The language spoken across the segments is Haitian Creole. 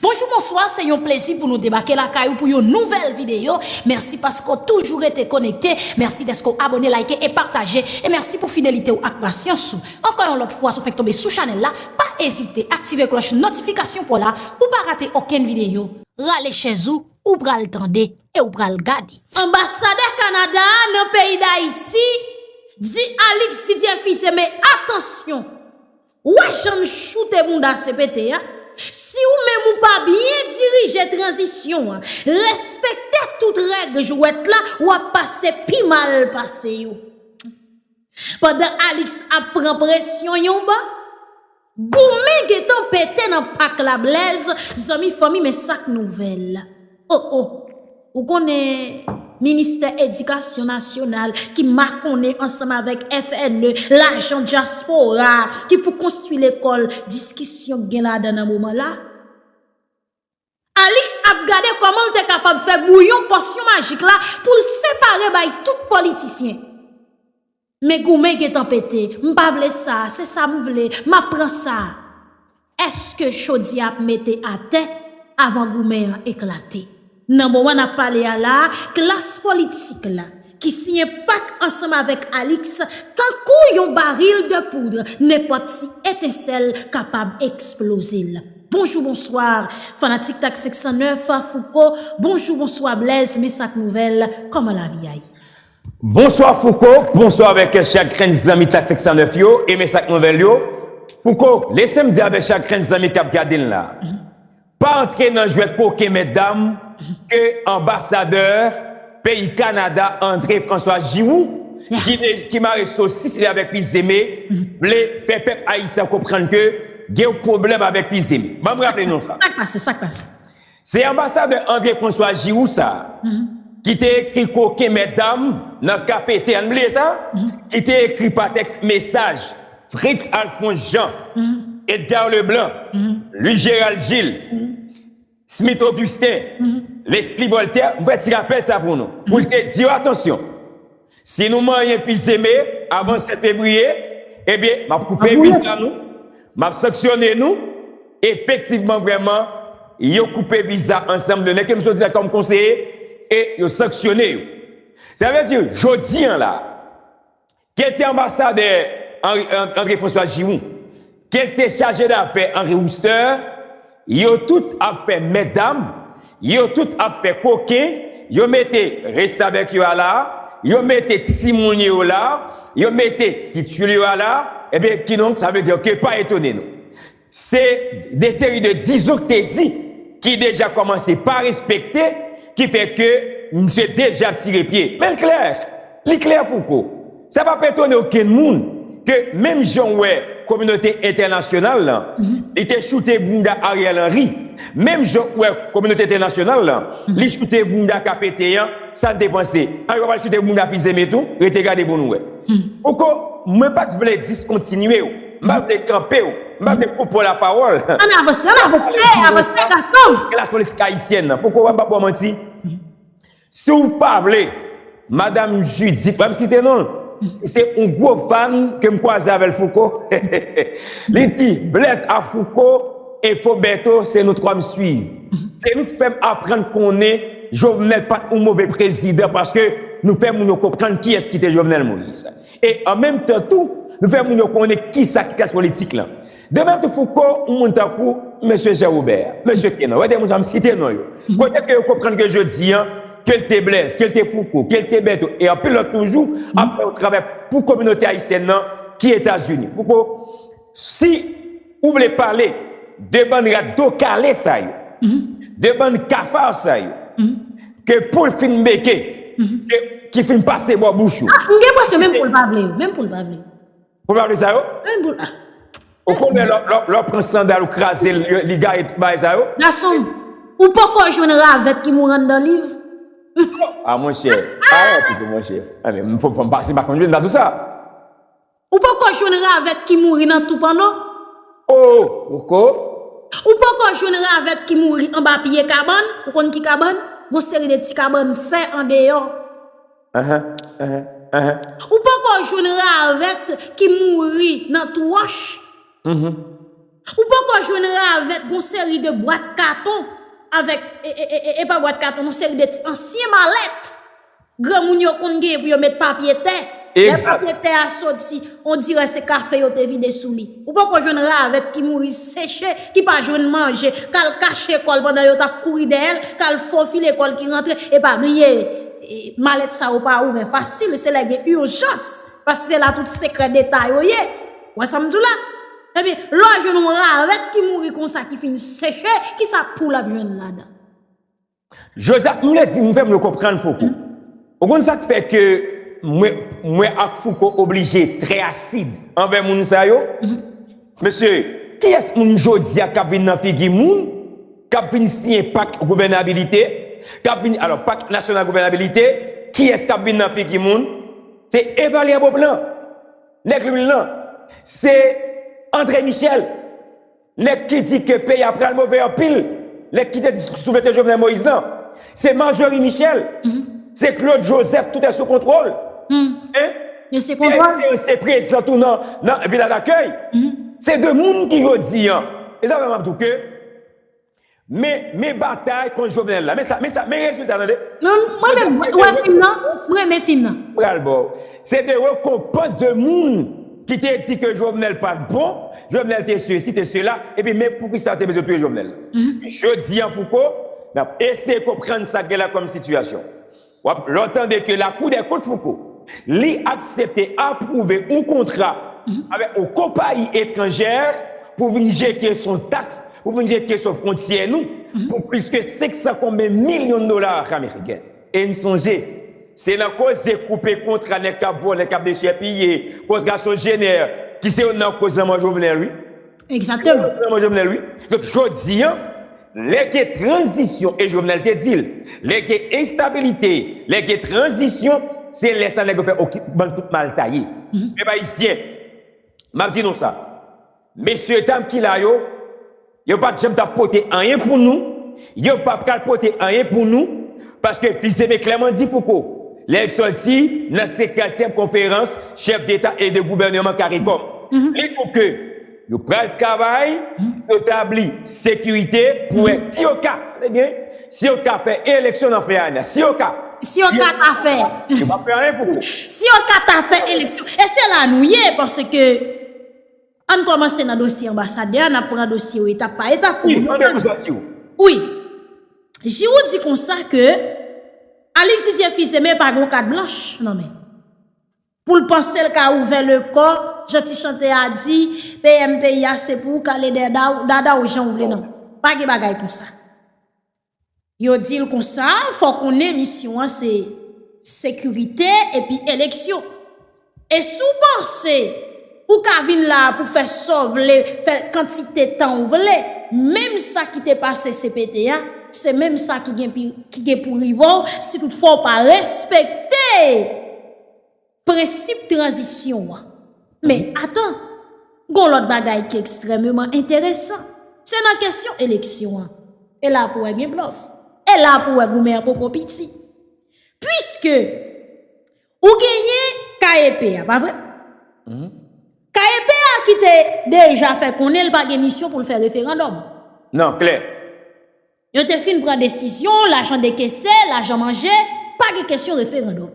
Bonjou bonswa se yon plezi pou nou debake lakay ou pou yon nouvèl videyo mèsi paske ou toujou rete konekte mèsi dèske ou abone layite e pataje e mèsi pou fidelite ou ak pasyans ou ankò yon lòt fwa sou fèk tonbe sou chanèl la pa ezite aktive klòch notifikasyon pou w la pou pa rate okenn videyo rale chèz ou ou pral tande e ou pral gade. Anbasadè Kanada a nan peyi Dayiti di Alix Didier Fils-Aimé atansyon Ou wè jan m choute bounda CPT a? Si ou menm ou pa byen dirije tranzisyon an, respekte tout règ jwèt la, w ap pase pi mal pase yo. Pandan Alix ap pran presyon yon bò, goumen gentan pete nan pak la Blaise zanmi fanmi men sak nouvèl? O o! Ou konnen ministè edikasyon nasyonal ki makonnen ansanm avèk FNE, lajan dyaspora ki pou konstwi lekòl, diskisyon k gen ladan nan moman la. Alix ap gade kòman l te kapab fè bouyon pòsyon majik la pou l separe bay tout politisyen. Men goumen gentan pete, m pa vle sa, se sa m vle, m ap pran sa. Èske chodyè ap mete atè avan goumen an eklate? Nan moman n ap pale a la, klas politik la, ki siyen pak ansanm avèk Alix, tankou yon baril de poudre, nenpòt ti etensèl kapab eksploze l. Bonjou bonswa, fanatik tak 509, Fouco, bonjou bonswa Blèz, men sa k nouvèl, kòman lavi a ye? Bonswa Fouco, bonswa avèk chakrenn zanmi tak 509 yo e mes ak nouvèl yo, Fouco lesem di avèk chakrenn zanmi kap gade'n la, pa antre nan jwèt koken mètdam ke anbasadè peyi Kanada André François Giroux ki mare sosis li avèk Fils-Aimé vle fè pèp ayisyen konprann ke gen yon pwoblèm avèk Fils-Aimé. Banm raple nou sa. Sak pase? Sak pase? Se anbasadè André François Giroux sa a, ki te ekri koken mètdam nan ka pete an bliye sa, ki te ekri pa tèks mesaj Fritz Alphonse Jean, Edgar Leblanc, Louis Gérald Gilles, Smith Augustin, Leslie Voltaire, m fè ti rapèl sa pou nou, pou l te di yo atansyon. Si nou manyen fils aimé avan 7 fevrier ebyen map koupe viza nou map sanksyone nou efektivman vrèman yo koupe viza ansanm de nèg kem soti la kòm konseye e yo sanksyone yo sa vle di jodi an la kete anbasadè André François Giroux Kelte chaje dafè Henri Wooster, yo tout ap fè mèt dam, yo tout ap fè koken, yo mete restavèk yo a la, yo mete ti moun yo la, yo mete ti tyoul yo a la, ebyen kidonk sa vle di ke pa etone nou. Se de seri de dizon k te di ki deja kòmanse pa respekte ki fè ke misye deja tire pye. Men l klè! Li klè Fouco, sa p ap etone okenn moun ke menm jan w wè kominote entènasyonal lan, li te choute bounda Ariel Henry, menm jan w wè kominote entènasyonal lan, li choute bounda Kapeten an, sa n te panse? An yo pa pral choute bounda Fils-Aimé tou? Rete gade pou nou wè. Fouco, mwen pa t vle diskontinye w, m pa vle kanpe w, m pa vle koupe w lapawòl. An n avanse, an n avanse, avanse gason m! Klas politik ayisyèn lan. Fouco, m pa ba w manti. Si w pa vle, madam Judith, pa m site non l, ki se yon gwo fan ke m kwaze avè l Fouco, li di, Bless ak Fouco e Foberto se nou twa m swiv. Se nou ki fè m aprann konnen Jovenel pa t yon move prezidan paske nou fè moun yo konprann kiyès ki te Jovenel Moïse. E an menm tan tou, nou fè moun yo konnen kisa ki klas politik lan. De menm tou Fouco, yon moun tankou Mesye Jean Robert, Mesye Kenan, wè de moun sa m site non yo, kote ke yo konprann ke jodi an, ke l te Blaise, ke l te Fouco, ke l te Bertho e anpil lòt toujou, ap fè yon travay pou kominote ayisyèn nan ki Etazini. Fouco, si ou vle pale de bann rat do kale sa yo, de bann cafard sa yo, ke poul fin beke, ke ki fin pase bò bouch ou. A, m gen enpresyon menm poul pa vle yo, menm poul pa vle yo. Pou mwen ap li sa yo? Menm pou la. Ou konnen lò pran sandal ou kraze li gaye tout bagay sa yo? Gason m, ou poko jwenn ravèt ki mouri anndan liv? A mon chè, a yon ti pou mon chè. A men, m fòk fòm pase pa konn jwenn dadou sa. Ou poko jwenn ravèt ki mouri nan tou panno? O! Poko. Ou poko jwenn ravèt ki mouri anba pye kabann? Ou konn ki kabann? Gon seri de ti kabann fè andeyò. Ou poko jwenn ravèt ki mouri nan tou wòch. Ou poko jwenn ravèt gon seri de bwat katon avèk e pa bwat katon non seri de ti ansyen malèt granmoun yo konn genyen pou yo met papye tè. Lè papye tè a soti on dirè se kafe yo te vide sou li. Ou poko jwenn ravèt ki mouri seche, ki pa jwenn manje, kal kache kòl pandan yo tap kouri dèyèl, kal fofile kòl ki rantre, e pa bliye malèt sa yo pa ouvè fasil, se lè gen urjans, paske se la tout sekrè deta yo ye, ou wè sam diw la? Ebyen, lè w jwenn yon ravèt ki mouri konsa ki fin seche, kisa poul ap jwenn ladan? Joseph m vle di m fè m yo konprann Fouco. Ou konn sa k fè ke mwen mwen ak Fouco oblije trè asid anvè moun sa yo? Mesye, kiyès moun jodi a k ap vin nan figi moun k ap vin siyen pak gouvènabilite, k ap vin alò pak nasyonal gouvènabilite, kiyès k ap vin nan figi moun? Se Evalya Beauplan, nèg lwil lan. Se André Michel. Nèg ki di ke peyi a pral move anpil, nèg ki te di sou vete Jovenel Moïse lan, se Marjorie Michel, se Claude Joseph tout est sous contrôle, hein, Pierre Esperance te prezan tou nan villa d'accueil, se de moun ki jodi an, e sa fè map di w ke. Men men batay kont jovenel la men sa men sa men rezilta tande. Mwen menm ou wè fim nan m renmen fim nan. Pral baw. Se te rekonpans de moun ki te di ke Jovenel pat bon, Jovenel te sesi te sela epi men poukisa yo te bezwen touye Jovenel. Jodi an Fouco nap eseye konprann sa gen la kòm sitiyasyon. Wap lè w tande ke lakou dè kont Fouco li aksepte apwouve yon kontra avèk yon konpayi etranjè pou vin jete sou taks, pou vin jete sou fwontyè nou pou plis ke 500 konbyen milyon dola ameriken. E n sonje se nan koze koupe kontra nèg kap vòlè, kap dechèpiye, kontra Sogener ki se youn nan koz lanmò Jovenel wi. Egzateman. Lanmò Jovenel wi. Donk jodi an. Lè gen tranzisyon e Jovenel te di l, lè gen enstabilite, lè gen tranzisyon, se lè sa nèg yo fè ok bann tout mal taye. Pèp ayisyen, m ap di nou sa, mesyedam ki la yo, yo pa t janm t ap pote anyen pou nou, yo pa pral pote anyen pou nou, paske Fils-Aimé klèman di Fouco, lè l sòti nan senkantyèm konferans chèf deta e de gouvèneman caricom, li di w ke. Yo pral travay pou yo tabli sekirite pou wè si yo ka, tande byen, si yo ka fè eleksyon nan fen ane a. Si yo ka. Si yo ka ta fè. Yo pa p fè anyen, Fouco. Si yo ka ta fè eleksyon. E se la nou ye, paske ann kòmanse nan dosye anbasadè a, n ap pran dosye yo etap pa etap. Wi, an de kouswa Jirou. Wi. Jirou di konsa ke Alix Didier Fils-Aimé pa gen yon kat blanch nan men l. Pou l panse l ka ouvè le kò, jan ti chantè a di, PM peyi a se pou ou kale dada w jan w vle nan. Pa gen bagay konsa. Yo di l konsa, fò w konnen misyon an se sekirite epi eleksyon. E si w panse ou ka vin la pou fè sa w vle, fè kantite tan w vle, menm sa ki te pase cpt a, se menm sa ki gen pou rive w si tout fwa w pa respekte. Prensip tranzisyon an. Men, atan! Gon lòt bagay ki ekstrèmeman enteresan. Se nan kesyon eleksyon an. E la pou wè gen blòf. E la pou wè goumen an poko piti. Puiske, ou genyen KEP a, pa vre? KEP a ki te deja fè konnen l pa gen misyon pou l fè referandòm. Nan, klè. Yo te fin pran desizyon, lajan dekese, lajan manje, pa gen kesyon referandòm.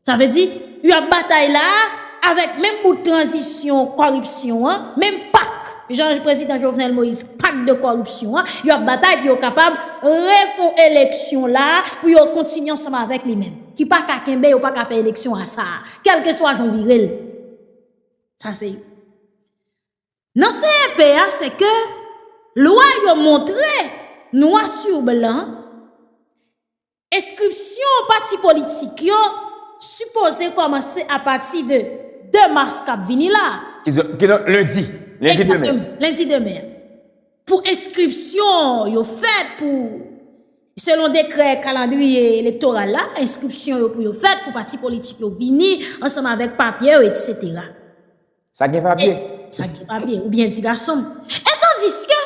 Sa vle di, yo ap batay la a, avèk menm bout tranzisyon kòripsyon an, menm pak, jan prezidan Jovenel Moïse, pak de kòripsyon an, yo ap batay pou yo kapab refon eleksyon la a, pou yo kontinye ansanm avèk li menm. Ki pa ka kenbe, yo pa ka fè eleksyon a sa a. Kèlkeswa jan w vire l. Sa se. Nan CEP a se ke lwa yo montre nwa su blan enskripsyon pati politik yo sipoze kòmanse apati de 2 mas k ap vini la a. Ki donk lendi. Egzakteman, lendi demen an. Pou enskripsyon yo fèt pou selon dekrè kalandriye elektoral la, enskripsyon yo pou yo fèt pou pati politik yo vini ansanm avèk papye yo, eksetera. Sa gen papye? Sa gen papye? Oubyen ti gason m? E tandiske,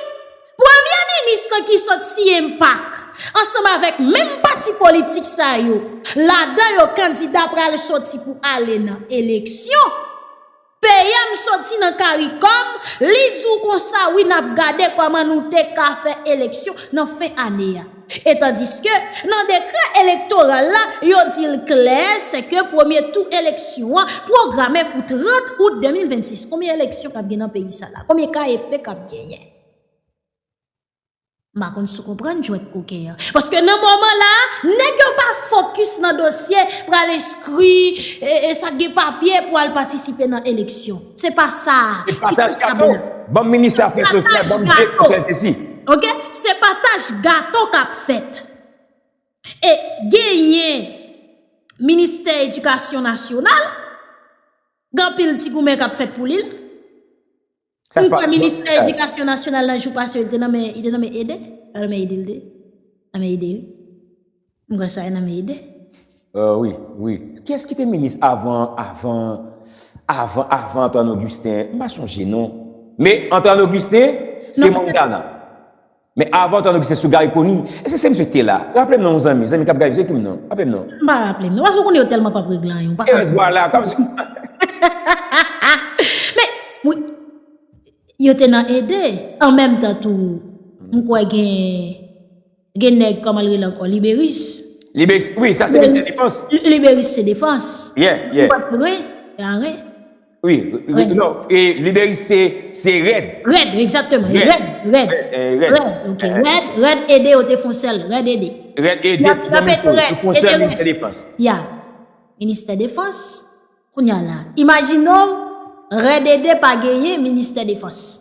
premye minis lan ki sot siye mpak, ansanm avèk menm pati politik sa yo, ladan yo kandida pral soti pou ale nan eleksyon, PM soti nan karikom, li di w konsa wi nap gade kòman nou te ka fè eleksyon nan fen ane a. E tandiske, nan dekrè elektoral la, yo di l klè se ke premye tou eleksyon an pwograme pou 30 out 2026. Konbyen eleksyon k ap gen nan peyi sa la? Konbyen ka e pe k ap genyen? M pa konn si w konprann jwèt koken an. Paske nan moman la a, nèg yo pa fokis nan dosye pou al enskri e sa k gen papye pou al patisipe nan eleksyon. Se pa sa a. Se pataj gato! Ban m minis afè sosyal, ban m direktè sesi. Ok se pataj gato kap fèt. E genyen ministè edikasyon nasyonal gen anpil ti goumen kap fèt pou li la. M kwè ministè edikasyon nasyonal nan jou pase yo te nan men ede. Nan men ede wi. M wè sa e nan men ide. Euh wi wi kiyès ki te minis avan avan avan avan Antoine Augustin m pa sonje non men Antoine Augustin se Montana men avan Antoine Augustin sou Garry Conille èske se misye ki te la raple m non zanmi zanmi kap gade yo se ki m non raple m non. M pa raple m non paske ou konnen yo tèlman pap regle anyen ou pa ka men wi yo te nan ede an menm tan tou m kwè gen Gen nèg kòman l rele ankò liberis. Liberis wi sa se metye defans. Liberis se defans. Yeah yeah. Ou pa konprann wi e a ren. Wi non liberis se rèd. Rèd egzakteman e rèd rèd. Rèd ok rèd rèd ede yo te fon sèl rèd ede. Rèd ede ki gen mouche yo fon sèl ministè defans. Ya ministè defans kounye a la imajine w rèd ede pa genyen ministè defans.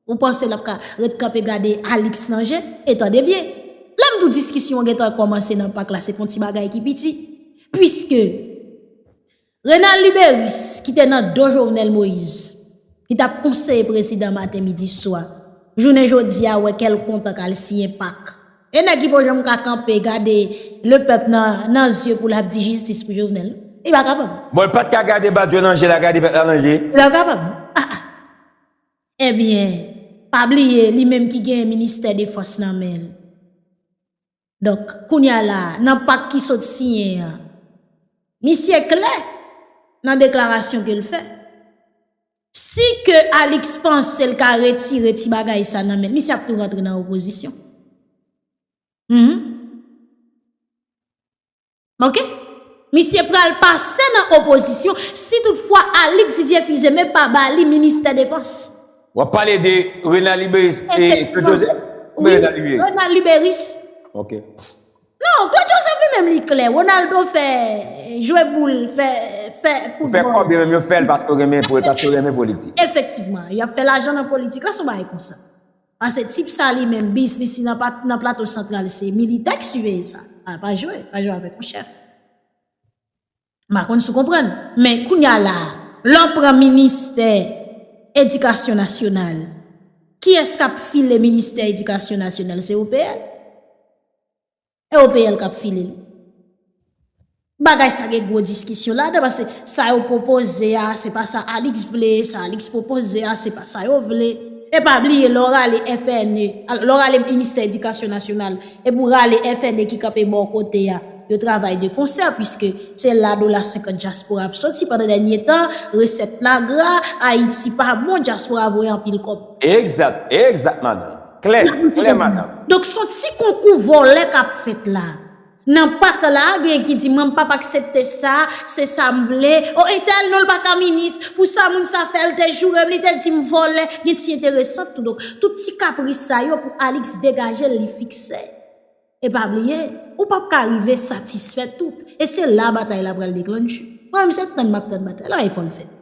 Ou panse lap ka ret kanpe gade Alix nan je? E tande byen, lè m di w diskisyon an gen tan kòmanse nan pak la se pa yon ti bagay ki piti. Puiske Renald Luberice ki te nan do Jovenel Moïse, ki t ap konseye prezidan maten, midi, swa, jounen jodi a wè kè l kontan k al siyen pak. E nèg ki po janm ka kanpe gade le pèp nan zye pou lap di jistis pou Jovenel. Li pa kapab. Bon l pat ka gade Badio nan je la gade pèp la nan je. Li pa kapab. Ah ah. Ebyen pa bliye li menm ki genyen ministè defans nan men l. Donk kounya la nan pak ki sot siyen an misye klè nan deklarasyon ke l fè. Si ke Alix panse l ka retire ti bagay sa nan men l, misye ap tou rantre nan opozisyon. Hum. Ok. Misye pral pase nan opozisyon si tout fwa Alix Didier Fils-Aimé pa ba li ministè defans. W ap pale de Renald Liberis e Claude Joseph? Ou byen Renald Liberis? Wi, Renald Liberis. Ok. Non claude joseph li menm li klè Ronaldo fè jwe boul fè fè football. Ou fè kòb yo menm yo fèl paske yo renmen paske yo renmen politik. Efektivman yap fè lajan nan politik la son bagay konsa. Pase tip sa li menm biznis li nan plato santral se militè k siveye sa. Pa jwe pa jwe avèk yon chèf. M pa konn si w konprann. Men kounye a la a, lè w pran ministè edikasyon nasyonal, kiyès k ap file ministè edikasyon nasyonal? Se OPL. E OPL k ap file l. Bagay sa gen gwo diskisyon ladan paske sa yo pwopoze a, se pa sa Alix vle, sa Alix pwopoze a, se pa sa yo vle. E pa bliye lè w rale FNE, lè w rale ministè edikasyon nasyonal, epi w rale FNE ki kanpe bò kote a. Yo travay de konsè puiske se la dola 50 dyaspora ap soti pandan dènye tan resèt la gra, Ayiti pa bon dyaspora voye anpil kòb. Egzat, egzat madanm. Klè, klè madanm. Donk son ti konkou vòlè kap fèt la. Nan pak la gen ki di mwen m pap aksepte sa, se sa m vle, oh entèl non l paka minis, pou sa moun sa fè l te joure m li te di m vòlè, gen ti enteresant tou donk tout ti kapris sa yo pou Alix degaje l li fikse. E pa bliye, ou pap ka rive satisfè tout. E se la batay la pral deklanche. Mwen menm se tann map tann batay la e fòl fèt.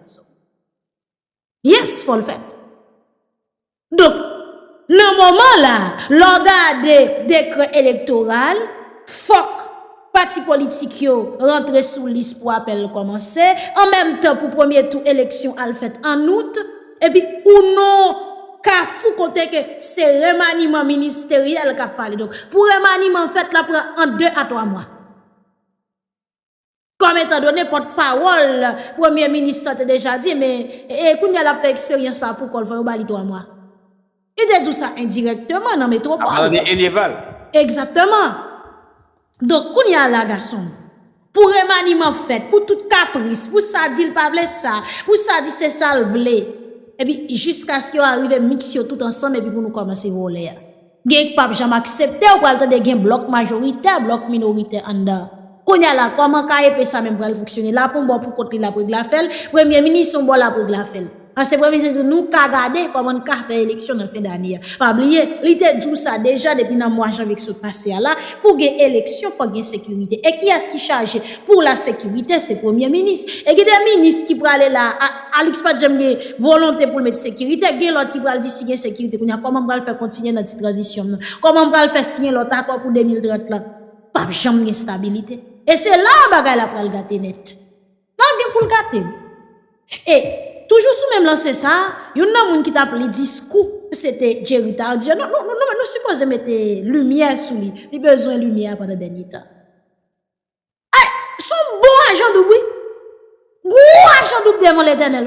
Yes fòl fèt. Donk, nan moman la, lò gade dekrè elektoral, fòk pati politik yo rantre sou lis pou apèl kòmanse, an menm tan pou premye tou eleksyon al fèt an out, Epi ou non kafou kote ke se remaniman ministeryèl kap pale. Donk pou remaniman fèt la pran ant 2 a 3 mwa. Kòm etan done pòt pawòl premye minis la te deja di men e kounye a lap fè eksperyans la pou kòl fò yo ba li 3 mwa. Li te di w sa endirèkteman nan Metwopòl. Apalan de Elyeval. Egzakteman. Donk, kounye a la gason m, pou remaniman fèt, pou tout kapris, pou sa di l pa vle sa, pou sa di se sa l vle, epi jiskaske yo arive miks yo tout ansanm epi pou nou kòmanse vole a. Gen k p ap janm aksepte, ou pral tande gen blòk majoritè, blòk minoritè anndan. Kounya la kòman ka epe sa menm pral fonksyone lap yon bò pou kont li lap regle afèl premye minis yon bò lap regle afèl ansyen premye minis di nou ka gade kòman n ka fè eleksyon nan fen dane a pa bliye li te di w sa deja depi nan mwa janvye ki sot pase a la pou gen eleksyon fòk gen sekirite e kiyès ki chaje pou la sekirite se premye minis e gen de minis ki prale la a Alix pat janm gen volonte pou l met sekirite gen lòt ki pral di si gen sekirite kounya kòman m pral fè kontinye nan ti tranzisyon m nan kòman m pral fè siyen lòt akò pou 2030 lan. pap janm gen stabilite. E se la a bagay la pral gate nèt. Nan gen pou l gate. E, toujou sou menm lanse sa a, youn nan moun ki tap li diskou, se te Jerry Tardieu. Non, non, non, nou sipoze mete limyè sou li. Li bezwen limyè a pandan dènye tan. Ay, son bon ajan doub wi. Gwo ajan doub devan Letènèl.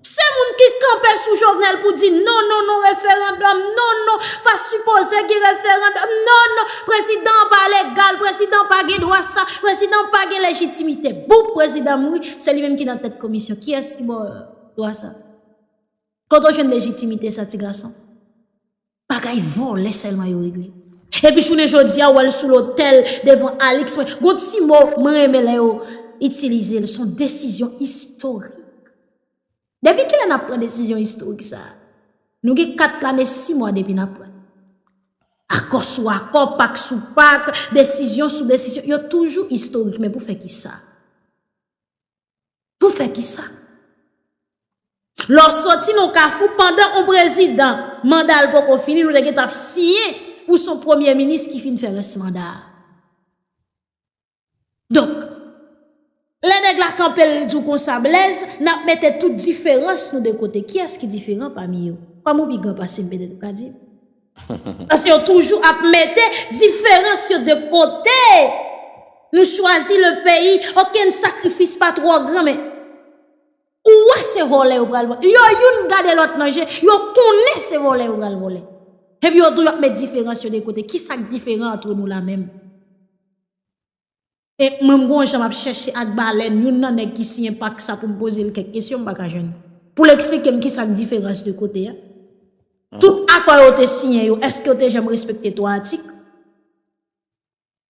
Se moun ki kanpe sou Jovenel pou di non, non, non referandòm, non, non, pa sipoze gen referandòm, non, non, prezidan an pa legal, prezidan an pa gen dwa sa, prezidan an pa gen lejitimite. Boop, prezidan mouri, se li menm ki nan tèt komisyon. Kiyès ki ba w dwa sa? Kote w jwenn lejitimite sa, ti gason? Bagay vòlè sèlman yo regle. Epi jounen jodia wèl sou lotèl devan Alix mwen gon ti mo mwen renmen lè yo itilizel son desizyon istorik. Depi kilè nap pran desizyon istorik sa? Nou gen 4 lane 6 mwa depi nap pran. Akò sou akò, pak sou pak, desizyon sou desizyon yo toujou istorik men pou fè kisa? Pou fè ki sa? Lè w soti nan yon kafou pandan yon prezidan manda l poko fini nou te gentan ap siyen pou son premye minis ki fin fè rès manda a. Donk, lè nèg la kanpe l di w konsa Blèz, n ap mete tout diferans nou de kote. Kiyès ki diferan pami yo? Kòm ou pi gran pase m petèt ou ka di m. Paske yo toujou ap mete diferans yo de kote. Nou chwazi le peyi, okenn sakrifis pa twò gran men. Ou wè se vòlè yo pral vòlè. Yo youn gade lòt nan je, yo konnen se vòlè yo pral vòlè. Epi yo toujou ap met diferans yo de kote. Ki sa k diferan antre nou la menm? E mwen m gon jan map chèche ak balèn youn nan nèg ki siyen pak sa pou m poze l kèk kesyon m pa ka jwenn pou l eksplike m kisa k diferans 2 kote a. Tout akò yo te siyen yo èske yo te janm respekte 3 atik?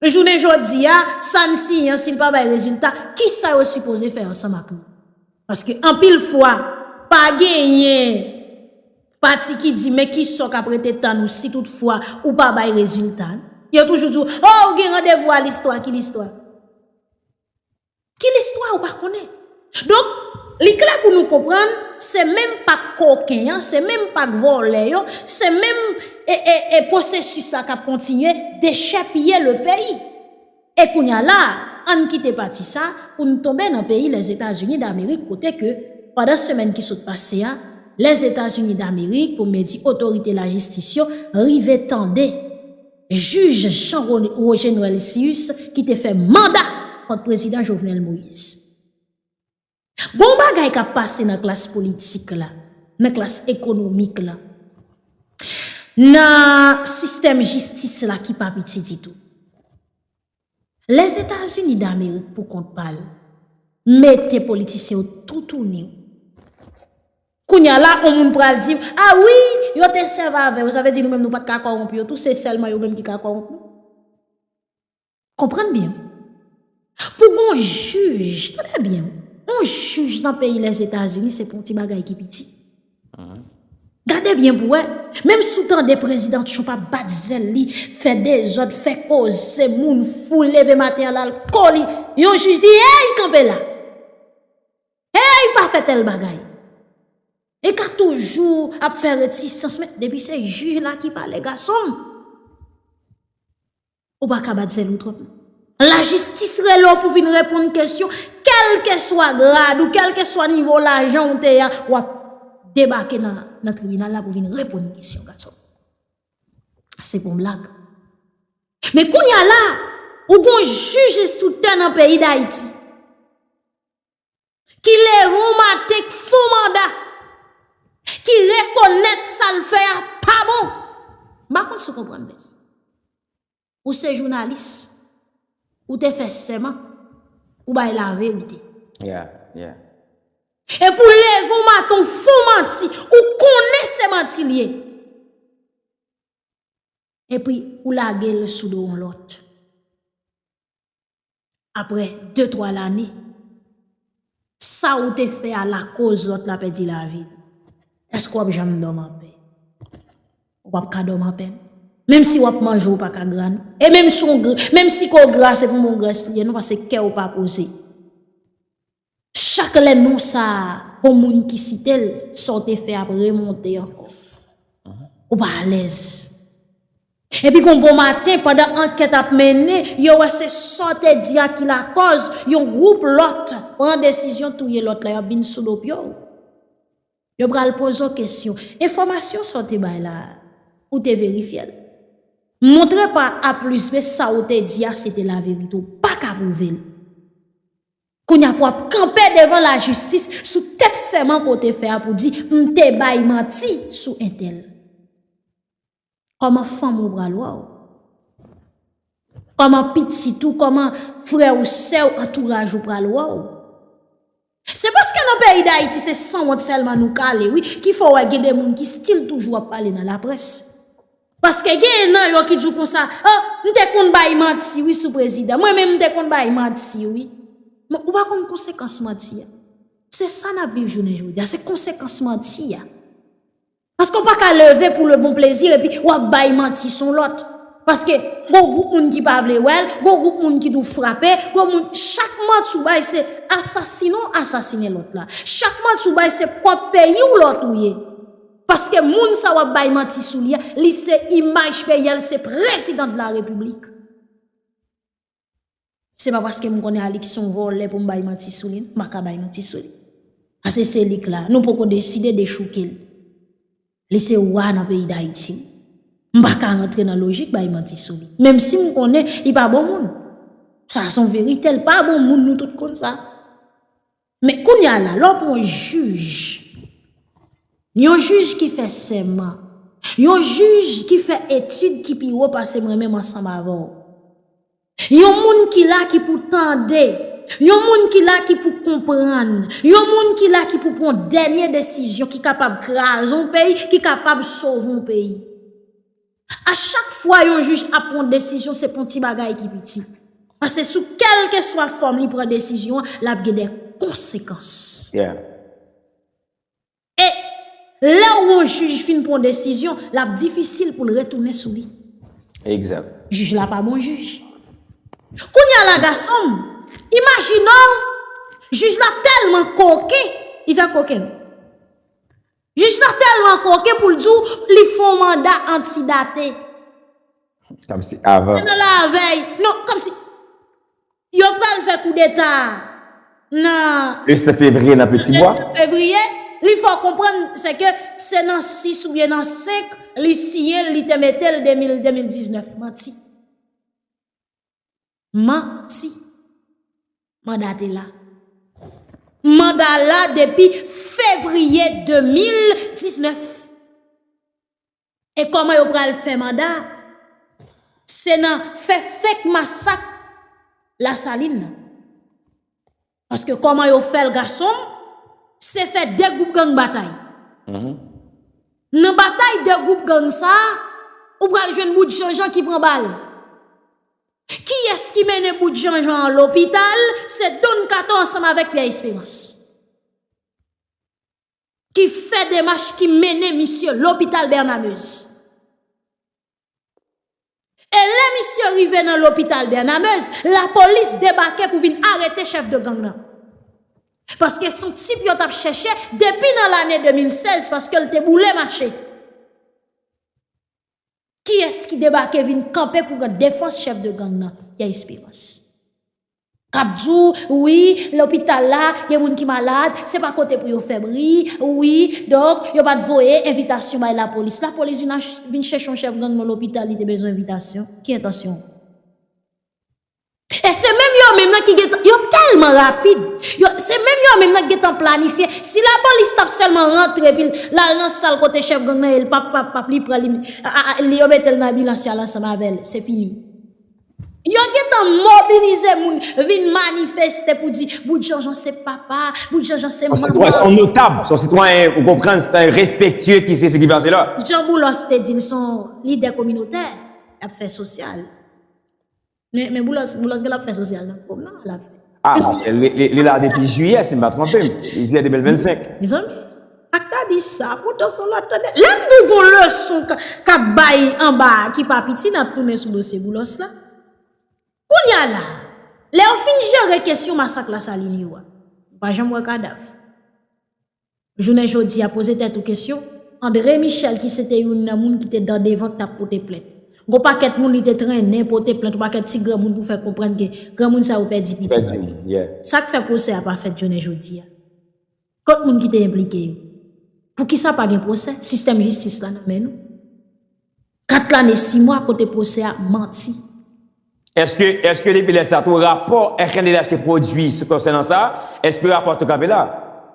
Jounen jodi a sa n siyen an si l pa bay rezilta kisa yo sipoze fè ansanm ak nou? Paske anpil fwa pa genyen. Pati ki di men ki sa w k ap rete tann ou si tout fwa ou pa bay rezilta n? Yo toujou di w o ou gen randevou a listwa ki listwa? Ki listwa ou pa konnen? Donk li klè pou nou konprann se menm pak koken an, se menm pak vòlè yo, se menm e e e posesis la k ap kontinye dechèpiye le peyi. E kounya la a, ann kite pati sa a pou n tonbe nan peyi Lèzetazini Damerik kote ke, pandan semèn ki sot pase a, Lèzetazini Damerik, pou mwen di otorite lajistis yo, rive tande jij Jean Roger Noël Cius ki te fè manda kont Prezidan Jovenel Moïse. Gon bagay k ap pase nan klas politik la, nan klas ekonomik la, nan sistèm jistis la ki pa piti ditou. Lèzetazini damerik pou kont pa l, mete politisyen yo toutouni. Kounye a la, on moun pral di, a wi, yo te sèv avè yo, sa vle di nou menm nou pa t ka kòwonpi yo tou, se sèlman yo menm ki ka kòwonpi. Konprann byen. Pou gon jij, tande byen, on jij nan peyi Lèzetazini se pon ti bagay ki piti. Gade byen pou wè, menm sou tande prezidan Trump ap bat zèl li, fè dezòd, fè koze, moun fou leve maten al al ko li, yon jij di, hey kanpe la! Hey pa fè tèl bagay! Li ka toujou ap fè retisans men depi se jij la ki pale gason m. Ou pa ka bat zèl ou twòp nan. La jistis rele w pou vin reponn kesyon, kèlke swa grad ou, kèlke swa nivo lajan ou te ya, w ap debake nan tribinal la pou vin reponn kesyon gason. Se pou m blag. Men kounye a la, ou gon jij enstriktè nan peyi Dayiti. ki leve yon maten k fon manda, ki rekonèt sa l fè a pa bon. M pa konn si w konprann byen. Ou se jounalis, ou te fè sèman, ou bay laverite. E pou w leve yon maten w fon manti, ou konnen se manti l ye. E pi ou lage l sou do yon lòt. aprè de twa lane sa ou te fè a lakoz lòt la pèdi lavi l èske w ap janm dòmi anpè ou pap ka dòmi anpè menm si w ap manje ou pa ka gra non e menm si w gra se pou mou grès li ye non paske kè ou pa poze. Chak lè non sa a on moun ki site l, sa w te fè ap remonte ankò. Ou pa alèz. Epi gon bon maten, pandan ankèt ap mennen, yo wè se sa w te di a ki lakòz yon gwoup lòt pran desizyon touye lòt la, y ap vin sou do pye w. Yo pral poze w kesyon. Enfòmasyon sa w te bay la a, ou te verifye l? Montre pa A plis B sa w te di a se te laverite. Ou pa ka pwouve l. Kounya pou ap kanpe devan la jistis sou tèt sèman ke w te fè a pou di m te bay manti sou entèl. Kòman fanm ou bra lwa w? Kòman pitit ou, kòman frè ou, sè ou, antouraj ou pral wè w? Se paske nan peyi Dayiti se sanwont sèlman nou kale wi ki fè w wè gen de moun ki stil toujou ap pale nan laprès. Paske genyen nan yo ki di w konsa, oh, m te konn bay manti wi sou prezidan, mwen menm m te konn bay manti wi. Men, ou pa konn konsekans manti a. Se sa n ap viv jounen jodi a, se konsekans manti a. Paske ou pa ka leve pou le bon plezi epi w ap bay manti sou lòt. Paske, gen yon gwoup moun ki pa vle wè l, gen yon gwoup moun ki di w frape, gen yon moun, chak manti ou bay se asasine ou asasine lòt la. Chak manti ou bay se pwòp peyi w lò touye. Paske moun sa wap bay manti sou li a li se imaj peyi a li se prezidan de la repiblik. Se pa paske m konnen Alix son vòlè pou m bay manti sou li m pa ka bay manti sou li. Ase se li k la nou poko deside dechouke l. Li se wa nan peyi dayiti. M pa ka rantre nan lojik bay manti sou li. Menm si m konnen li pa bon moun. Sa son verite l pa bon moun nou tout konn sa. Men kounye a la, lè w pran yon jij, yon jij ki fè sèman, yon jij ki fè etid ki pi wo pase mwen menm ansanm avè w, yon moun ki la ki pou tande, yon moun ki la ki pou konprann, yon moun ki la ki pou pran dènye desizyon ki kapab kraze yon peyi, ki kapab sove yon peyi. A chak fwa yon jij ap pran desizyon se pon ti bagay ki piti. Pase sou kelke swa fòm li pran desizyon an, l ap gen de konsekans. E lè ou yon jij fin pran desizyon, l ap difisil pou l retounen sou li. Jij la pa bon jij. Kounye a la gason m, imajine w, jij la tèlman koken, li fè koken. Jij la telman koken poul di w li fè yon manda antidate. Komsi avan. Se nan lavèy. Non komsi yo pral fè koudeta nan. Le 7 fevriye nan peti bwa. Le 7 fevriye. Li fè w konprann se ke se nan 6 ou byen nan 5 li siyen li te mete l 2019. Manti. Manti. Manda te la. Manda la depi fevriye 2019. E koman yo pral fè manda? Se nan fè fake masak la saline. Paske koman yo fèl gasonm se fè 2 group gang batay Nan batay 2 group gang sa ou pral jwenn bout janjan ki pran bal Kiyès ki mennen bout janjan an lopital se don kato ansanm avèk pyè esperans. ki fè demach ki mennen misye lopital Bènamez. E lè misye rive nan lopital Bènamez, lapolis debake pou vin arete chèf de gang nan. Paske son tip yo t ap chèche depi nan lane 2016 paske l te boule mache. Kiyès ki debake vin kanpe pou pran defans chèf de gang nan, Pierre Espérance? K ap di w, wi, lopital la gen moun ki malad, se pa kote pou yo fè bri, wi, donk, yo pa t voye envitasyon bay lapolis. Lapolis vin chèche yon chèf gang nan lopital li te bezwen envitasyon, ki entansyon? E se menm yo menm nan ki gen tan, yo tèlman rapid, se menm yo menm nan ki gen tan planifye, si lapolis t ap sèlman rantre epi l al nan sal kote chèf gang nan ye, l pap pap pap, li pran li, yo mete l nan ambulans y al ansanm avè l, se fini. Yo gen tan mobilize moun vin manifeste pou di Bout Janjan se papa, Bout Janjan se manman. Son sitwayen, son notab, son sitwayen, ou konprann, sitwayen respektye ki se se ki pase la. Jan Boulos te di l, son lidè kominotè, l ap fè sosyal. Men boulos gen lap fè sosyal nan kòm nan ala fè. A li la depi jiyè si m pa tronpem, jiyè 2025. Mezanmi ak ta di sa poutan son lòt tande. Lè m di w gon leson kap bay anba a ki pa piti nap tounen sou dosye boulos la. Kounya la a lè yo fin jere kesyon masak lasalin yo a, m pa janm wè kadav. Jounen jodi a poze tèt ou kesyon, André Michel ki se te youn nan moun ki te dan devan ki t ap pote plent. Gon pakèt moun li te trennen pote plent, yon pakèt ti granmoun pou fè konprann ke granmoun sa yo pèdi pitit yo. Sa k fè pwosè a pa fèt jounen jodi a? Kot moun ki te enplike yo? Poukisa pa gen pwosè? Sistèm jistis la nan men nou? 4 lane 6 mwa kote pwosè a manti. Eske, eske depi lè sa tou rapò FNDH te pwodui sou konsènan sa, eske rapò a tou kanpe la?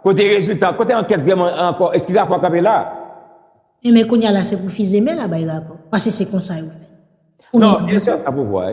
Kote rezilta, kote ankèt vrèman an ankò, eske rapò a kanpe la? Enben kounya la se pou Fizeme la bay rapò, pase se konsa yo fè. Non, byen sè sa pouvwa.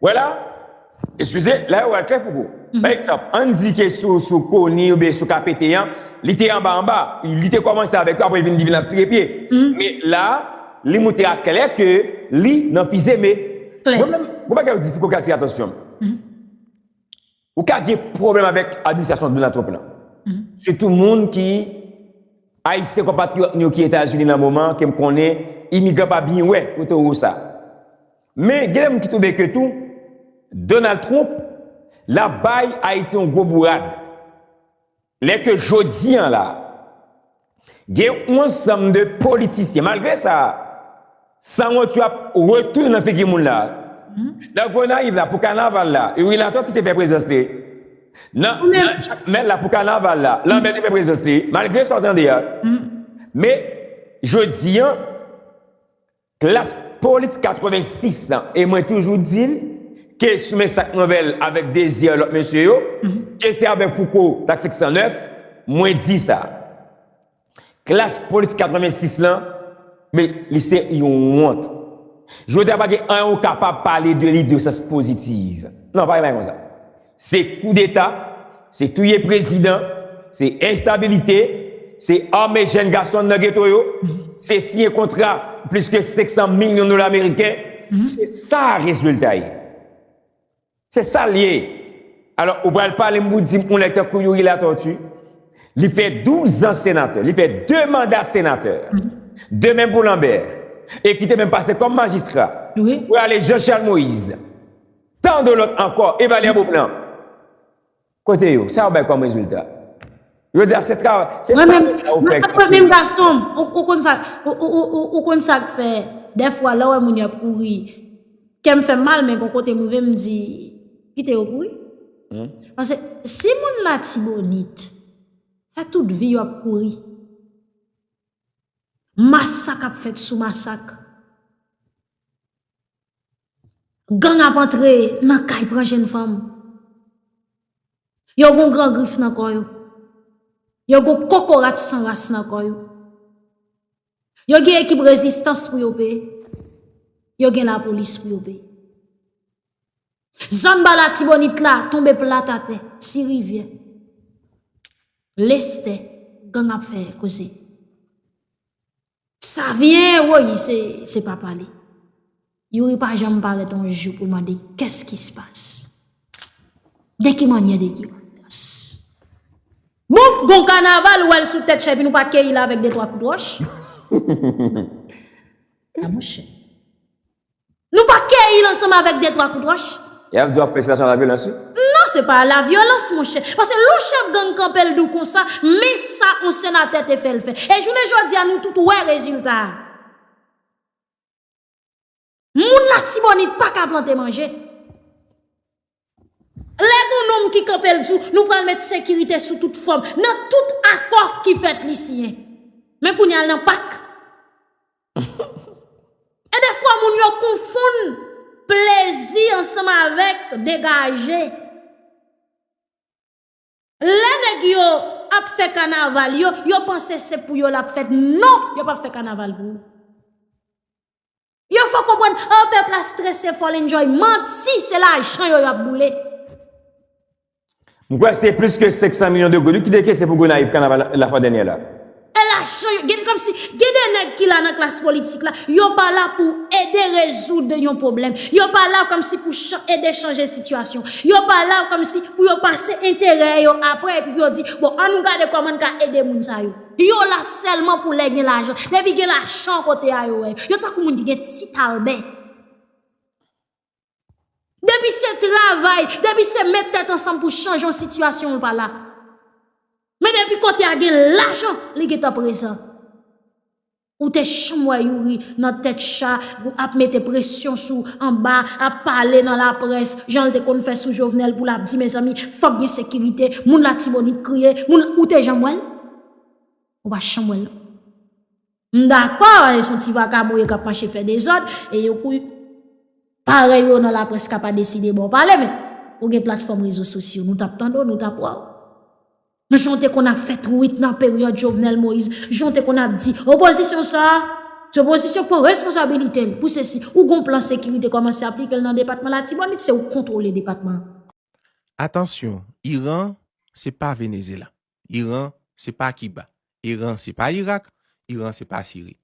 Wè la, eskize, la yo wè l klè Fouco. Pa egzanp, ann di ke sou, sou Koni oubyen sou KPT an, li te anba anba, li te kòmanse avèk yo apre li vin, li vin ap tire pye. Men la, li moutre a klè ke li nan fizeme. Mwen menm, gon bagay yo di Fouco ki atire atansyon m. Ou ka gen pwoblèm avèk administrasyon Donald Trump lan. Sitou moun ki Ayisyen konpatriyòt nou yo ki Etazini nan moman an ke m konnen imigran pa byen wè kote ou sa. Men gen de moun ki twouve ke tou Donald Trump la bay Ayiti yon gwo bourad. Lè ke jodi an la, gen yon ansanm de politisyen, malgre sa, sanwont yo ap retounen nan figi moun la. Nan Gonayiv la, pou kanaval la, yon relatò ki te fè prezans li, nan Jakmèl la, pou kanaval la, Lanbè te fè prezans li, malgre sa w tande a. Men, jodi an, Klass police 86 lan e mwen toujou dil ke sou men sak mwen vel avek Désir lot mesye yo ke se avek Fouco taksik 109 mwen di sa Klass police 86 lan me li se yon wont jodia pa gen anyen ou kapab pale de li de sans positive nan pa gen bagay konsa Se koudeta, se touye prezidan, se enstabilite, se ame jenn gason nan geto yo, se siyen kontra plis ke 500 milyon dola ameriken, se sa rezilta ye. Se sa l ye. Alò, ou pral pale m pou di m yon nèg tankou Youri Latortue, li fè 12 an senatè, li fè 2 manda senatè, de menm pou Lambert, e ki te menm pase kòm majistra, pou ale Jean Charles Moïse, Tant de lot anko e valè boom nan kote yo sa yo bay kom rezilta jodi a se travay se Mwen menm save sa ou fè mwen menm gason m ou konn sa ou konn sak fè dèfwa lè w wè moun yo ap kouri kè m fè m mal men gon kote m rive m di kite yo kouri paske si moun latibonit fè tout vi yo ap kouri masak ap fèt sou masak Gang ap antre nan kay pran jenn fanm. Yo gon gran grif nan kò yo. Yo gon kokorat san ras nan kò yo. Yo gen ekip rezistans pou yo peye. Yo gen la polis pou yo peye. Zòn ba la tibonit la tonbe plat atè. Ti rivyè. Lestè gang ap fè koze. Savyen woyy se papa li. Youri pa janm parèt yon jou pou mande kès ki se pas. De ki manyè de ki manyans. Bon gon kanaval ou wèl sou tèt chè epi nou pa keyil avèk de twa kout wòch. Nan mouche. Nou pa keyi l ansanm avèk de twa kout wòch? E ap di w ap fè sitasyon a la vyolans wi. Non se pa a la vyolans monchè. Pase lè w chèf gang kanpe l di w konsa, men sa on senatè te fè l fè. E jounen jodi a nou tout wè rezilta a. Moun latibonit pa ka plante manje. Lè gon nonm ki kanpe l di w nou pral met sekirite sou tout fòm nan tout akò ki fèt li siyen. Men kounye a l nan pak. E defwa moun yo konfonn plezi ansanm avèk degaje. Lè nèg yo ap fè kanaval yo, yo panse se pou yo lap fèt. Non, yo pap fè kanaval pou ou. Yo fò konprann, oh pèp la strese fòl enjoy. Manti, se lajan yo yap boule. M kwè se plis ke 500 milyon de goud wi ki te kese pou Gonayiv kanaval lafwa dènyè la. E lajan yo gen komsi gen de nèg ki la nan klas politik la, yo pa la pou ede rezoud yon pwoblèm, yo pa la komsi pou ede chanje sitiyasyon, yo pa la komsi pou yo pase enterè yo apre epi pou yo di bon an nou gade kòman n ka ede moun sa yo. Yo la sèlman pou lè gen lajan. Depi gen lajan kote a yo wè yo. Yo tankou moun ki gen ti talbè. Depi se travay, depi se met tèt ansanm pou chanje yon sitiyasyon ou pa la. Men depi kote a gen lajan, li gen tan prezan. Ou te chanm wè Youri nan tèt cha, ap mete presyon sou anba, ap pale nan laprès, jan l te konn fè sou Jovenel pou l ap di mezanmi, fòk gen sekirite, moun latibonit kriye, moun, ou te janm wè l? Ou pa chanm wè l non. M dakò e son ti vakabon yo kap mache fè dezòd e yo kou parèy yo nan laprès ka pa deside ba w pale men ou gen platfòm rezo sosyo nou tap tande w nou tap wè w men jan w te konn ap fè twit nan peryòd Jovenel Moïse jan w te konn ap di opozisyon sa a se opozisyon k pran responsabilite l pou se si ou gon plan sekirite kòmanse aplike l nan depatman latibonit se ou k kontwole depatman an. Atansyon Iran se pa Venezela. Iran se pa Kiba. Iran se pa Irak. Iran se pa Siri.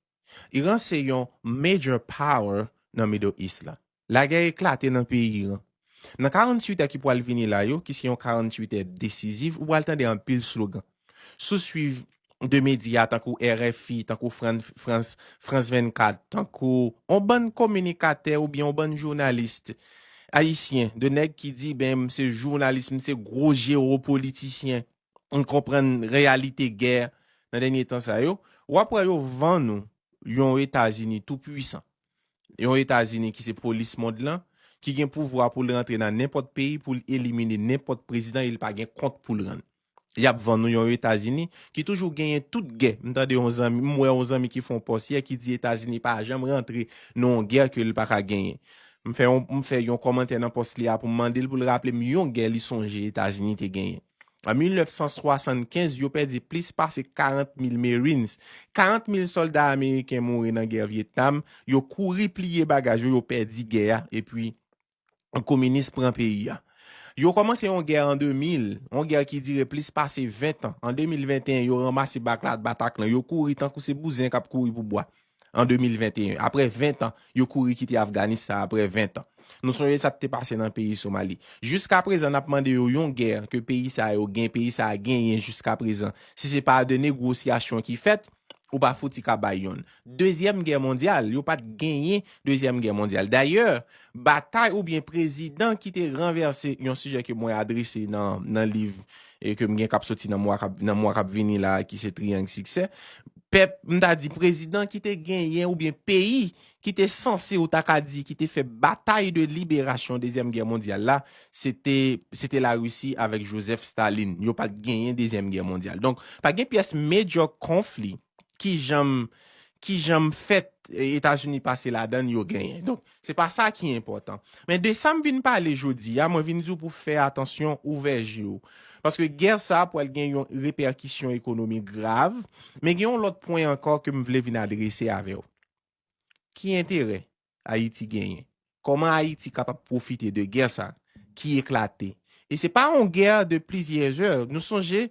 Iran se yon major power nan Middle East la. Lagè eklate nan peyi Iran. Nan 48 è ki pwal vini la yo, ki se yon 48 è desiziv, ou pwal tande anpil slogan. Si w swiv 2 medya tankou RFI, tankou France 24, tankou on bann kominikatè oubyen on bann journaliste Ayisyen, de nèg ki di ben m se jounalis, m se gwo jewopolitisyen, m konprann reyalite gè nan dènye tan sa yo, w ap wè yo vann ou yon Etazini tou pwisan, yon Etazini ki se polis mond lan, ki gen pouvwa pou l rantre nan nenpòt peyi, pou l elimine nenpòt prezidan e li pa gen kont pou l rann. yap vann nou yon etazini ki toujou genyen tout gè m tande yon zanmi m wè yon zanmi ki fè yon pòs yè ki di etazini pa janm rantre nan yon gè ke li paka genyen m fè yon m fè yon kòmantè nan pòs li a pou m mande l pou l raple m yon gè li sonje etazini te genyen an 1975 yo pèdi plis pase 40 mil marines 40 mil sòlda ameriken mouri nan gè vietnam yo kouri pliye bagaj yo yo pèdi gè a epi kominis pran peyi a. Yo kòmanse yon gè an 2000, yon gè ki dire plis pase 20 tan. An 2021, yo ranmase bakla batak lan, yo kouri tankou se bouzen k ap kouri pou bwa. An 2021, apre 20 tan, yo kouri kite Afganistan apre 20 tan. Nou sonje sa k te pase nan peyi Somali. Jiska prezan n ap mande yo yon gè ke peyi sa yo gen, peyi sa a genyen jiska prezan. Si se pa de negwosyasyon ki fèt, Ou pa fouti ka bay yon dezyèm gè mondyal. Yo pat genyen dezyèm gè mondyal. Dayè, batay oubyen prezidan ki te ranvèse, yon sijè ke mwen adrese nan liv ke m gen k ap soti nan mwa k ap vini la a ki se Triyang Siksè, pèp, m ta di prezidan ki te genyen oubyen peyi ki te sanse ou ta ka di ki te fè batay de liberasyon dezyèm gè mondyal la se te se te la Russie avèk Joseph Staline yo pat genyen dezyèm gè mondyal donk pa gen pyès major conflit ki janm ki janm fèt Etazini pase ladann yo genyen donk se pa sa ki enpòtan men de sa m vin pale jodi a mwen vin di w pou fè atansyon ouvè je w paske gè sa pwal gen yon repèkisyon ekonomik grav men gen yon lòt pwen ankò ke m vle vin adrese avè w. Ki enterè Ayiti genyen? Kòman Ayiti kapab pwofite de gè sa ki eklate? E se pa yon gè de plizyè zè. Nou sonje,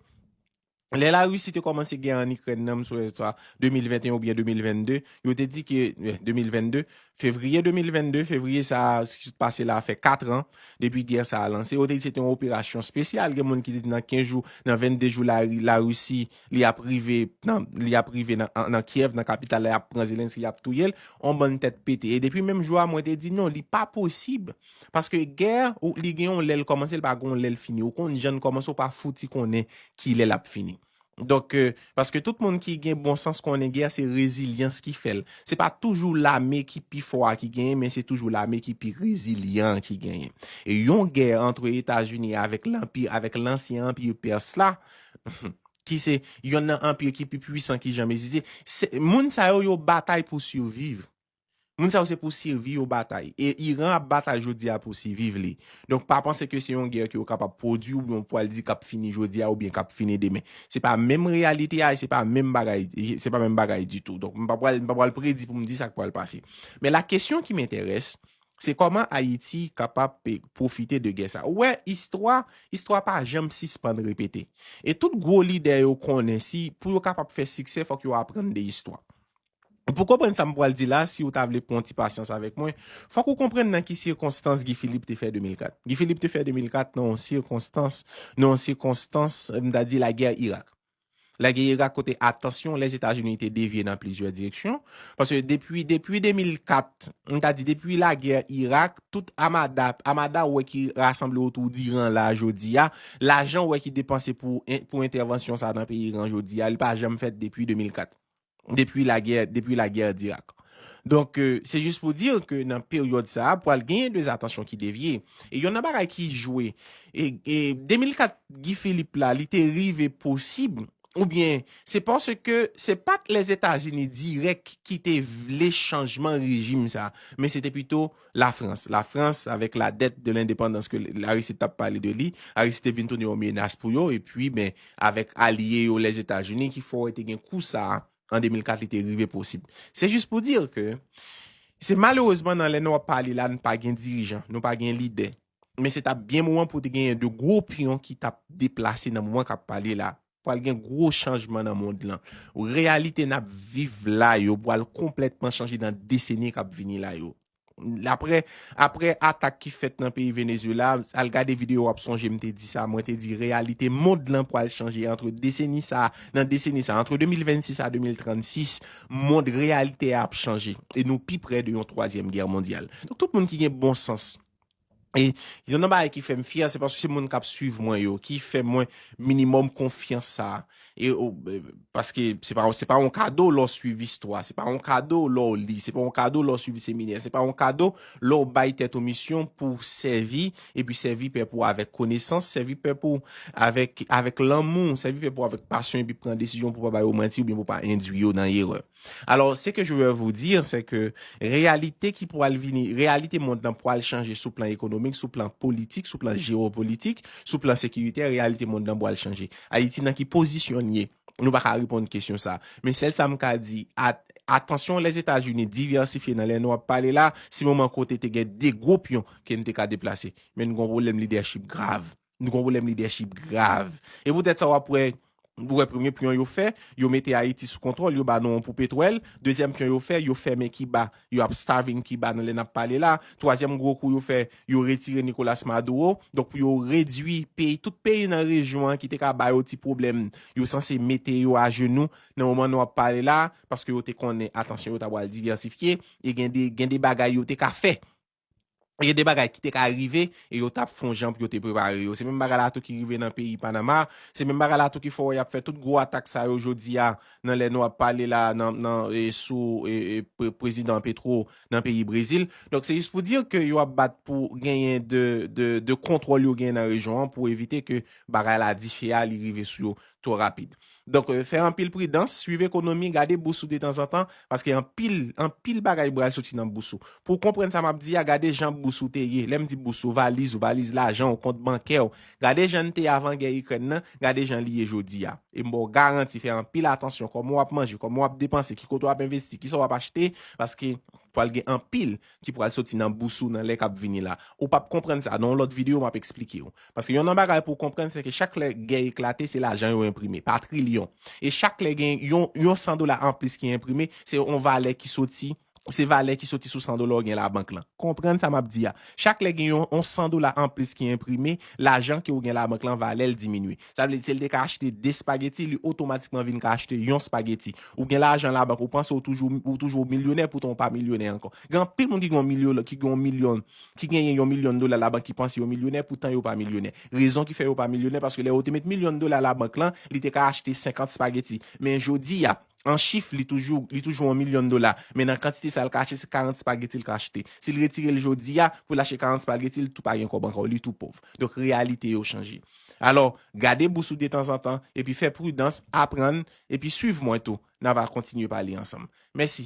lè Larisi te kòmanse gè an Ikrèn nan, m swe sa 2021 oubyen 2022, yo te di ke, 2022, fevriye 2022, fevriye sa a ki sot pase la a fè katran depi gè sa a lanse, yo te di se te yon operasyon spesyal, gen moun ki te di nan 15 jou, nan 22 jou Larisi Li ap rive nan li ap rive nan nan Kiev nan kapital la yap pran Zelensky yap touyel on bann tèt pete e depi menm jou a mwen te di non li pa posib paske gè ou li gen yon lèl kòmanse li pa gen yon lèl fini ou konn jann kòmanse ou pa fouti konnen kilè lap fini donk paske tout moun ki gen bon sans konnen gè se rezilyans ki fèl se pa toujou lame ki pi fò a ki genyen men se toujou lame ki pi rezilyan an ki genyen e yon gè antre etazini avèk lanpi avèk lansyen anpi pèse la ki se yonn nan anpir ki pi pwisan ki janm egziste, se moun sa yo yo batay pou siviv. Moun sa yo se pou sivi yo batay. E Iran ap batay jodi a pou siviv li. Donk pa panse ke se yon gè ke yo kapab pwodui oubyen ou pwal di kap fini jodi a oubyen kap fini demen. Se pa menm reyalite a e se pa menm bagay, se pa menm bagay ditou. Donk m pa pwal, m pa pwal predi pou m di sak pwal pase. Men la kesyon ki m enterès, Se kòman Ayiti kapab p pwofite de gè sa. Ou wè istwa, istwa pa janm sispann repete. E tout gwo lidè yo konnen si pou yo kapab fè siksè fòk yo aprann de istwa. Pou konprann sa m pwal di la, si ou ta vle pwan ti pasyans avèk mwen, fòk ou konprann nan ki sikonstans Guy Philippe te fè 2004. Guy Philippe te fè 2004 nan yon sikonstans, nan yon sikonstans m ta di lagè Irak. La Guerre Irak kote atansyon Lèzetazini te devye nan plizyè direksyon. Paske depi depi 2004, m ta di depi La Guerre Irak, tout amada, amada ou wè ki rasanble otou d'Iran la jodi a, lajan ou wè ki depanse pou pou entèvansyon sa nan peyi Iran jodi a, li pa janm fèt depi 2004. depi lagè depi lagè d'Irak. Donk se jis pou dir ke nan peryòd sa a pwal genyen de atansyon ki devye. E yonn nan bagay ki jwe e 2004 Guy Philippe la li te rive posib oubyen se paske se pat Lèzetazini dirèk ki te vle chanjman rejim sa men se te pito Lafrans. Lafrans, avèk la dèt de lendepandans ke Larisi tap pale de li, Larisi te vin tounen yon menas pou yo, epi ben, avèk alye yo Lèzetazini ki fè wè te gen kou sa a, an 2004 li te rive posib. Se jis pou dire ke, se malerezman nan lè nou ap pale la nou pa gen dirijan, nou pa gen lidè. Men se tap byen moman pou te genyen de gwo pyon ki tap deplase nan moman kap pale la a. Pwal gen gwo chanjman nan mond lan. Reyalite nap viv la yo pwal konplètman chanje nan deseni kap vini la yo. Aprè aprè atak ki fèt nan peyi Venezuela, al gade video wap sonje m te di sa, mwen te di reyalite mond lan pwal chanje antre deseni sa, nan deseni sa, antre 2026 a 2036, mond reyalite a ap chanje e nou pi prè de yon twazyèm gè mondyal. Donk tout moun ki gen bon sans. E yon nan bagay ki fè m fyè, se paske se moun k ap suiv mwen yo ki fè mwen minimòm konfyans sa a. E o, paske se pa, se pa yon kado lè w suiv istwa, se pa yon kado lè w li, se pa yon kado lè w suiv seminè, se pa yon kado lè w bay tèt ou misyon pou w sèvi, epi sèvi pèp ou avèk konesans, sèvi pèp ou avèk, avèk lanmou, sèvi pèp ou avèk pasyon epi pran desizyon pou w pa ba yo manti oubyen pou w pa endui yo nan erè. Alors, ce que je veux vous dire, c'est que reyalite ki pwal vini, reyalite mond lan pwal chanje sou plan ekonomik, sou plan politik, sou plan jewopolitik, sou plan sekiritè, reyalite mond lan pwal chanje. Ayiti nan ki pozisyon n ye? Nou pa ka reponn kesyon sa. Men sèl sa m ka di, atansyon Lèzetazini divèsifye nan lè nou ap pale la, se moman kote te gen 2 gwo pyon ke n te ka deplase. Men n gen yon pwoblèm lidèchip grave. Nou gon pwoblèm lidèchip grav. E poutèt sa w ap wè, ou wè premye pyon yo fè, yo mete Ayiti sou kontwòl, yo ba nou yon poupe twèl. Dezyèm pyon yo fè, yo fèmen Kiba, yo ap starving Kiba nan lè n ap pale la a. Twazyèm gwo kou yo fè, yo retire Nicolas Maduro. Donk pou yo redui peyi, tout peyi nan rejyon an ki te ka ba yo ti pwoblèm, yo sanse mete yo ajenou nan moman nou ap pale la a, paske yo te konnen atansyon yo ta pral diversifye e gen de gen de bagay yo te ka fè Gen de bagay ki te ka rive e yo tap fon jan pou yo te prepare yo. Se menm bagay la tou ki rive nan peyi Panama, se menm bagay la tou ki fè wè yap fè tout gwo atak sa yo jodi a nan lè nou ap pale la nan sou prezidan Petro nan peyi Brezil. Donk se jis pou dir ke yo ap bat pou genyen de kontwòl yo genyen nan rejyon an pou evite ke bagay la dife a li rive sou yo two rapid. Donk fè anpil pridans, swiv ekonomi, gade bous ou detanzantan, paske anpil, anpil bagay bral soti nan bous ou. Pou w konprann sa map di a, gade jan bous ou te ye, lè m di bous ou, valiz ou, valiz lajan ou, kont bankè ou, gade jan n te avan gè Ikrèn nan, gade jan li ye jodi a. E m ba w garanti, fè anpil atansyon kòman w ap manje, kòman w ap depanse, ki kote w ap envesti, kisa w ap achte, paske pral gen anpil, ki pral soti nan bous ou nan lè kap vini la ou pap konprann sa nan yon lòt video map esplikew paske yon nan bagay pouw konprann seke chak lè gè eklate se lajan yo enprime pa trilyon e chak lè gen yon yon 100 dola anplis ki enprime se yon valè ki soti se valè ki soti sou 100 dola ou gen la bank lan konprann sa map di a chak lè gen yon yon 100 dola anplis ki enprime lajan ke ou gen la bank lan valèl diminye. Sa vle di si l te ka achte 2 spageti li otomatikman vin ka achte yon spageti. Ou gen lajan labank ou panse ou toujou ou toujou milyonè poutan ou pa milyonè ankò. Gen anpil moun ki gen yon milyon ki gen yon milyon ki genyen yon milyon dola labank ki panse yo milyonè poutan yo pa milyonè. Rezon ki fè yo pa milyonè paske lè yo te met milyon dola labank lan li te ka achte 50 spageti men jodi a an chif li toujou li toujou yon milyon dola men nan kantite sa l ka achte se 40 spageti l ka achte. Si l retire l jodi a pou l achte 40 spageti li tou pa gen kòb ankò li tou pòv. Donk reyalite yo chanje. Alò, gade bous ou detanzantan, epi fè pridans, aprann, epi swiv mwen tou, nan va kontinye pale ansanm. Mèsi.